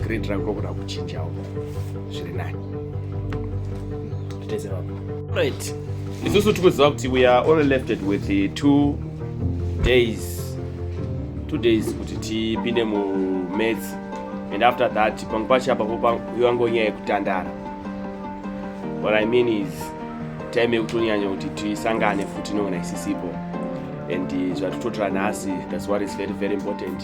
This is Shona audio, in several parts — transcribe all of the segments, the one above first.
Green drug rokona kuchinja uko zviri nani titeze vapo right isusu tikuziva kuti we are only lefted with the two days two days kuti tipinde mumaths and after that pamwe pacho apapo yangonyaya yekutandara what i mean is time yekutonyanya kuti tisangane futi nongona isisipo and eh, zvatitotora nhasi that's what is very very important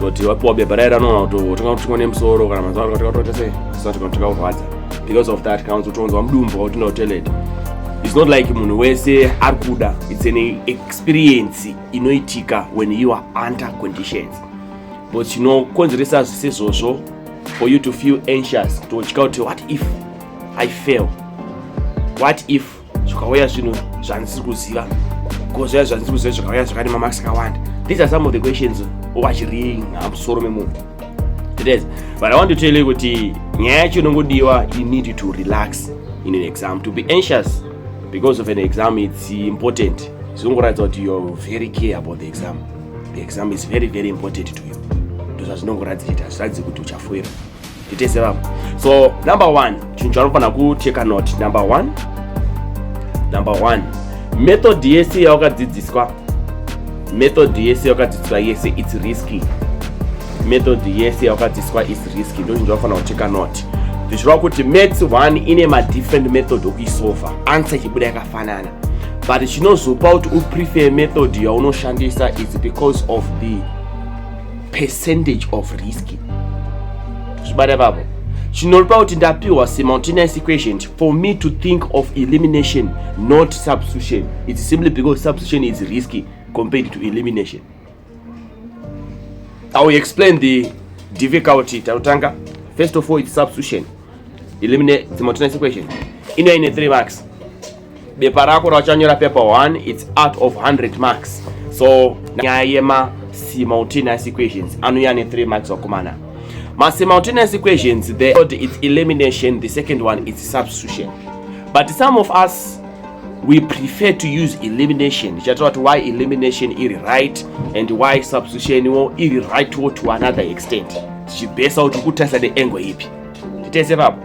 toti wapiwa bepa raye ranoona kuti watenga kuti tingone musoro kana mazuva kuti watoita sei zisati kana tikaurwadza because of that kana kutonzwa mudumbu kuti no toilet it's not like munhu wese ari kuda it's an experience inoitika when you are under conditions but chinokonzeresa zvise izvozvo for you to feel anxious kutotya kuti what if i fail what if zvikauya zvinhu zvandisiri kuziva ko zviya zvandisiri kuziva zvakauya zvakati mamax akawanda these are some of the questions ovachiriinga musoro memunhu it is but i want to tell you kuti nyaya yacho inongodiwa you need to relax in an exam to be anxious because of an exam it's important zvinongoratidza kuti you're very care about the exam the exam is very very important to you ndozvazvinongoratidza kuti hazviratidzi kuti uchafoira titese vamwe so number one chinhu chaunofanira kucheka not number one number one method yese yawakadzidziswa method yese yawakadzidziswa yese its risky method yese yawakadzidziswa is risky ndo chinhu chaunofanira kucheka not zvichireva kuti maths one ine madifferent method okuisova answer ichibuda yakafanana but chinozopa kuti uprefer method yaunoshandisa is because of the percentage of risk zvibata vavo chinoripa kuti ndapiwa semountainous equation for me to think of elimination not substitution it's simply because substitution is risky compared to elimination i will explain the difficulty tanotanga first of all it's substitution eliminate the mountainous equation inoine three marks bepa rako rauchanyora paper 1 its out of 100 marks so nyaya yema simultaneous equations anouya ne 3 marks wakomana ma simultaneous equations the third is elimination the second one is substitution but some of us we prefer to use elimination chataura kuti why elimination iri right and why substitution wo iri right wo to another extent tichibhesa kuti kutarisa neangle ipi titese papo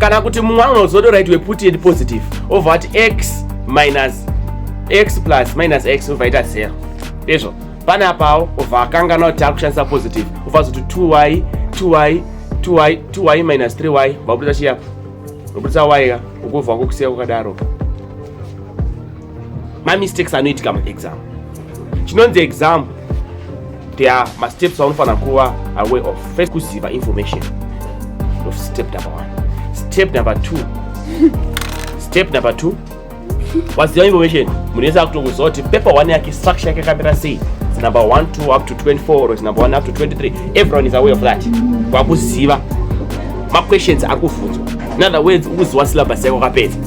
kana kuti mumwe anozotora it weput and positive over ati x minus x plus minus x obva ita zero ndizvo pane apawo obva akangana kuti ari kushandisa positive obva azoti 2y 2y 2y 2y minus 3y vabudisa chiyapo vabudisa y ka ukubva kukusiya kwakadaro mamistakes anoitika muexam chinonzi exam there are masteps aunofanira kuva away of first kuziva information of step number one step number two step number two waziva information munhu yese akutokuziva kuti paper one yake structure yake yakamira sei number 1 2 up to 24 or it's number 1 up to 23 everyone is aware of that kwakuziva maquestions akuvhunzwa in other words ukuziwa syllabus yako kapedza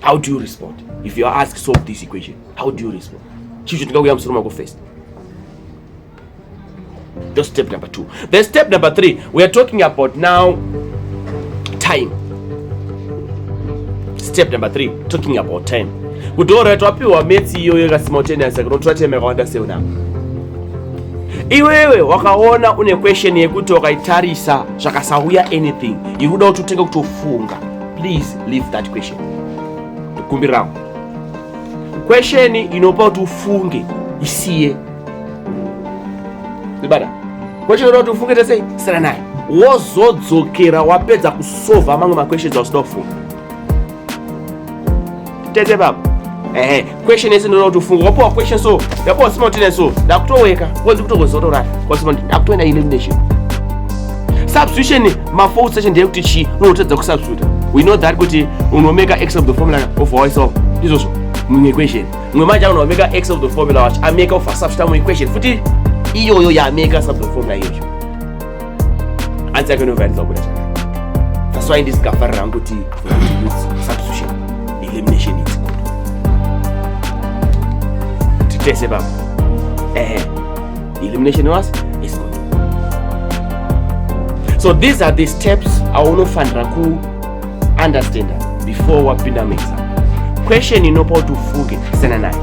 How do you respond? If you are asked solve this equation, how do you respond? Chicho tingakuya musoro mako first. That's step number two. Then step number three, we are talking about now time. Step number three, talking about time. Kuti ora twapiwa metsi iyo yeka simultaneous kunotora time yakawanda sei now? Iwewe wakaona une question yekuti wakaitarisa zvakasauya anything. Iri kuda kuti utenge kutofunga. please leave that question kumbirawo question inopa kuti ufunge isiye ibada question inopa kuti ufunge tese sera naye wozodzokera wapedza kusova mamwe maquestions ausida kufunga tete baba ehe question yese ndinoda kuti ufunge wapiwa question so ndapiwa sima kuti so ndakutoweka konzi kutokozorora konzi kuti ndakutoenda elimination substitution mafault session ndeye kuti chi unotadza kusubstitute we know that kuti unomeka x of the formula of ourself ndizvozvo mumwe equation mumwe manje unomeka x of the formula wacho ameka of asubstitute mumwe equation futi iyoyo yaameka sub the formula iyoyo hanzi yake inovhairidzwa kuda zvakanaka that's why ndisingafarira hangu kuti substitution elimination is good titese baba ehe elimination was is good so these are the steps aunofanira ku understanda before wapinda muexam question inopa kuti ufunge sena nayo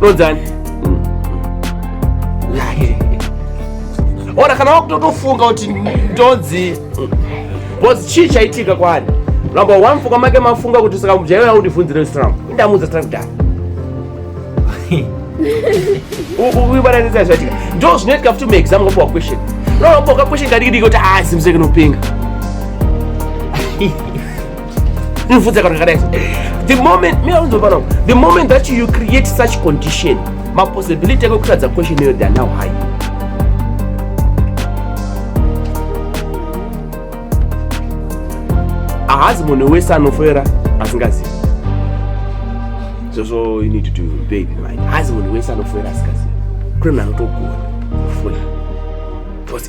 Rodzani. Ora kana wakutotofunga kuti ndonzi bozi chii chaitika kwani? Number one fuka make mafunga kuti saka mujaya yao ndivunzire strong. Indamuza strong da. Ubu ibara ndiza zvatika. Ndo zvinoitika futi mu exam ngopo question. No, ngopo question kadiki diki kuti ah simseke nopinga. the moment me aunzopana the moment that you create such condition mapossibility ake kutadza question iyoyo theyare now high ahazi munhu wese anofera asingazivi zvozvo you need to pay in mind hazi munhu wese anofera asingazivi kune munhu anotogona kufona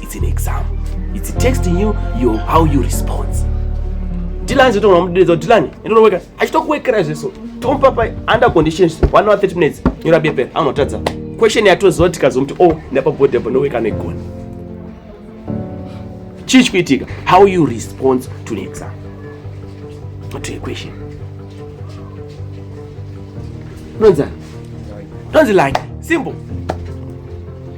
It's an exam. It's testing you, you how you respond. Dylan zito unamuderedza kuti Dylan enda unoweka. Achitokuwekera zveso. Tomupa pa under conditions 1 hour 30 minutes. Nyora bepe anotadza. Question yatoziva kuti kazomuti oh ndapa body apo noweka negona. Chii chikuitika? How you respond to an exam. To a question. Unonzani? Unonzi like simple.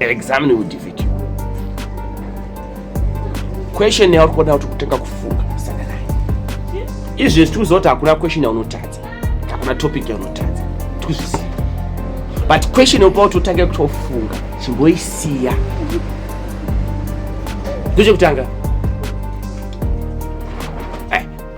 Examine will defeat you. Question yauri kuona kuti kutanga kufunga kusana naye. Izvi zvichuzoti hakuna question yaunotadza. Hakuna topic yaunotadza. Tikuzviziva. But question yokupa kuti utange kutofunga chimboisiya. Ndechekutanga.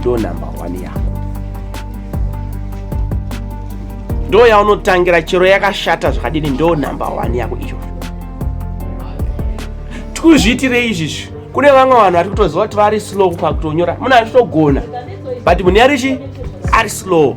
ndo number one yako ndo yaunotangira chero yakashata zvakadini ndo number one yako iyo tikuzviitirei izvizvi kune vamwe vanhu vari kutoziva kuti vari slow pakutonyora munhu achitogona but munhu yarichi ari slow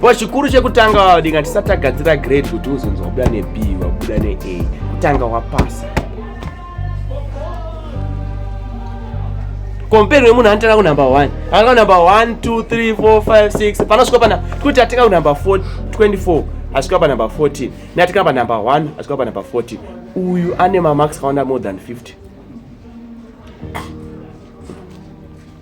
But chikuru chekutanga wavadinga tisati tagadzira grade kuti uzonzi wabuda neb wabuda nea kutanga wapasa komperi wemunhu anotanga kunumber one anga kunumber one two three four five six panosvika pana kuti atinga kunumber four twenty four asvika panumber fourteen neatinga panumber one asvika panumber fourteen uyu ane mamax akawanda more than fifty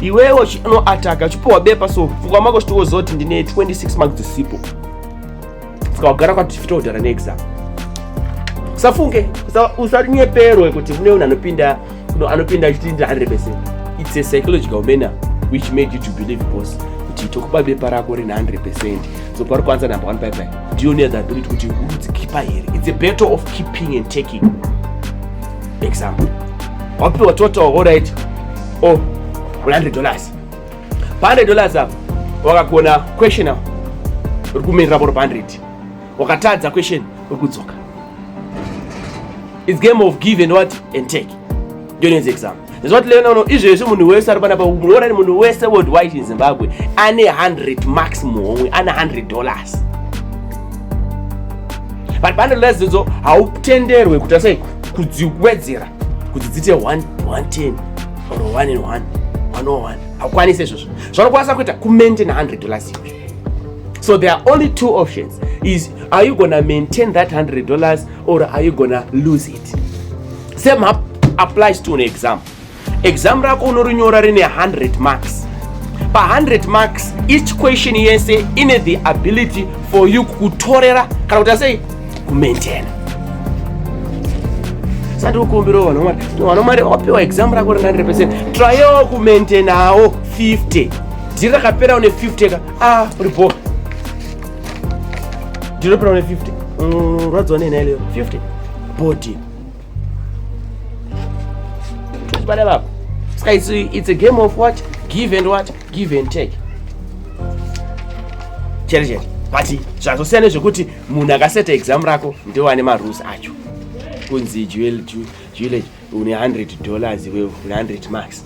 iwewe uchianoataka uchipiwa bepa so pfungwa mako chitowoziva kuti ndine 26 marks dzisipo saka wagara kwati fitodhara neexam usafunge usanyeperwe kuti mune unhu anopinda anopinda achiti ndi 100 percent it's a psychological manner which made you to believe boss kuti tokupa bepa rako rine 100 percent so pari kwanza number one baibai ndiyo neadhaability kuti unodzikipa here it's a battle of keeping and taking example wapiwa total alright o oh, 100 dollars pa 100 dollars apa wakagona question apa uri kumirira voro pa 100 wakatadza question uri kudzoka its game of give and what and take ndiyonenzi example Zvoti lena uno izvezvi munhu wese ari panapa munoona ni munhu wese worldwide in Zimbabwe ane 100 marks muhomwe ane 100 dollars. But bundle rezidzo hautenderwe kuita sei kudziwedzera kuti dzite 1 110 or 1 and 1 101 hakwanisi izvozvo zvanokwanisa kuita kumaintain 100 dollars izvi so there are only two options is are you gonna maintain that 100 dollars or are you gonna lose it Same applies to an exam. Exam rako unorinyora rine 100 marks. Pa 100 marks each question yese ine the ability for you kutorera kana kuti asei kumaintaina. Sati ukumbirawo vanhu mwari, vanhu mwari wapiwa exam rako rine 100%, tryawo kumaintainawo 50. Dhiri rakapera une 50 ka, ah uri bho. Dhiri rakapera une 50. Mm, rwadziwa nei nhai leyo 50. Body. Bada baba. Sky, it's, it's a game of what? Give and what? Give and take. Chere chere. But zvakasiyana nezvekuti munhu akaseta exam rako ndiwo ane marules acho. Kunzi jewel jewel une 100 dollars iwe une 100 marks.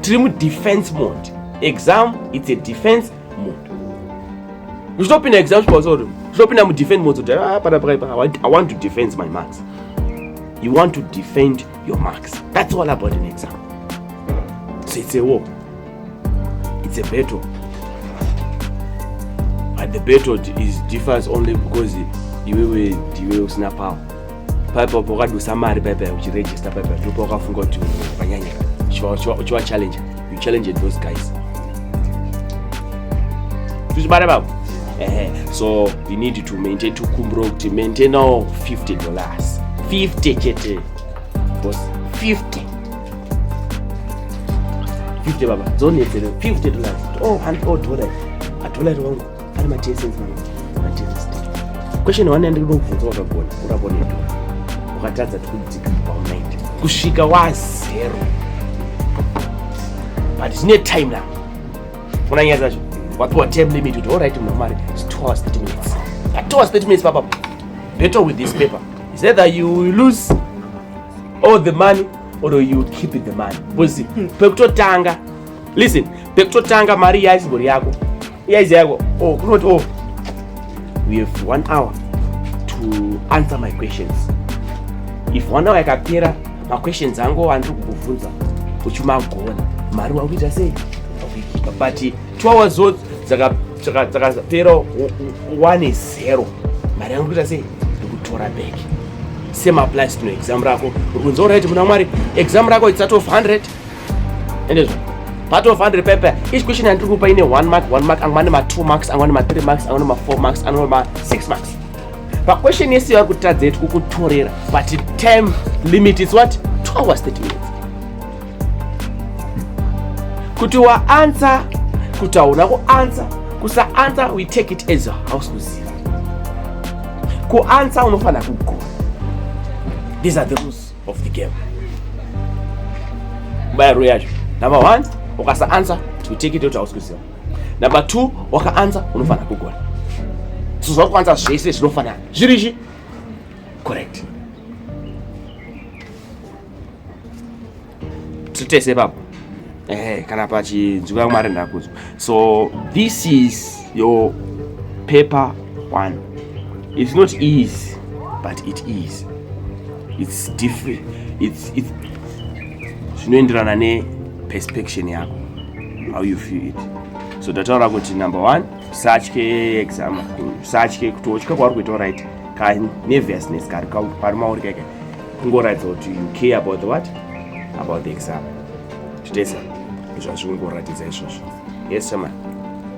tiri mudefense mode exam its a defense mode zvinopinda exam zvipausori zvinopinda mudefend mode zoti ah, pana pakaipa i want to defend my marks you want to defend your marks that's all about an exam so it's a war it's a battle and the battle is differs only because iwewe ndiwe usina power paipa pawakadusa mari paipa uchiregista paipa ndipo pawakafunga kuti vanyanya uchiva challenge you challenge those guys tuzvibara babo ehe so you need to maintain to kumbro kuti maintain now 50 dollars 50 chete bos 50 50 baba dzonetsere 50 dollars oh hand oh dollar a dollar wangu Ari ma TSS manje. Ma TSS. Question one yandiri kubvunza wakagona kurapa neto. Ukatadza tikudzika pa 90. Kusvika wa zero. But zvine time na. Una nyaya zvacho. Wapiwa time limit kuti all right mari. It's 2 hours 30 minutes. At 2 hours 30 minutes papa. Better with this paper. Is either you lose all the money or you keep it the money. Because hmm. pekutotanga listen pekutotanga mari yaisibori yako Uya izi yako. Oh, kunoti oh. We have one hour to answer my questions. If one hour yakapera, ma questions angu andiri kukuvhunza uchimagona. Mari wakuita sei? But two hours zot dzakapera one is zero. Mari yangu kuita sei? Ndikutora back. Same applies to exam rako. Ukunzora kuti muna Mwari, exam rako it's out of 100. endezvo part of 100 paper each question yandiri kupa ine 1 mark 1 mark amwe ane ma2 marks amwe ane ma3 marks amwe ane ma4 marks amwe ane ma6 marks paquestion yese yavari kutadza yeti kukutorera but time limit is what 2 hours 30 minutes kuti waansa kuti hauna kuansa kusaansa we take it as house kuziva kuansa unofanira kugona these are the rules of the game bayaro yacho number one ukasa answer to take it out ausikuziva number two waka answer unofanira kugona so zvakuanza zvese zvinofanira zvirizvi correct titese papo ehe kana pachinzwira mwari ndakudzwa so this is your paper one it's not easy but it is it's different it's it's zvinoenderana ne perspection yako how you feel it so tataura kuti number one usatye exam usatye kuti otya kwauri kuita right ka nervousness kari kwauri mauri kaika kungoratidza kuti you care about the what about the exam Chitesa izvo hazvi kungoratidza izvozvo. Yes chairman.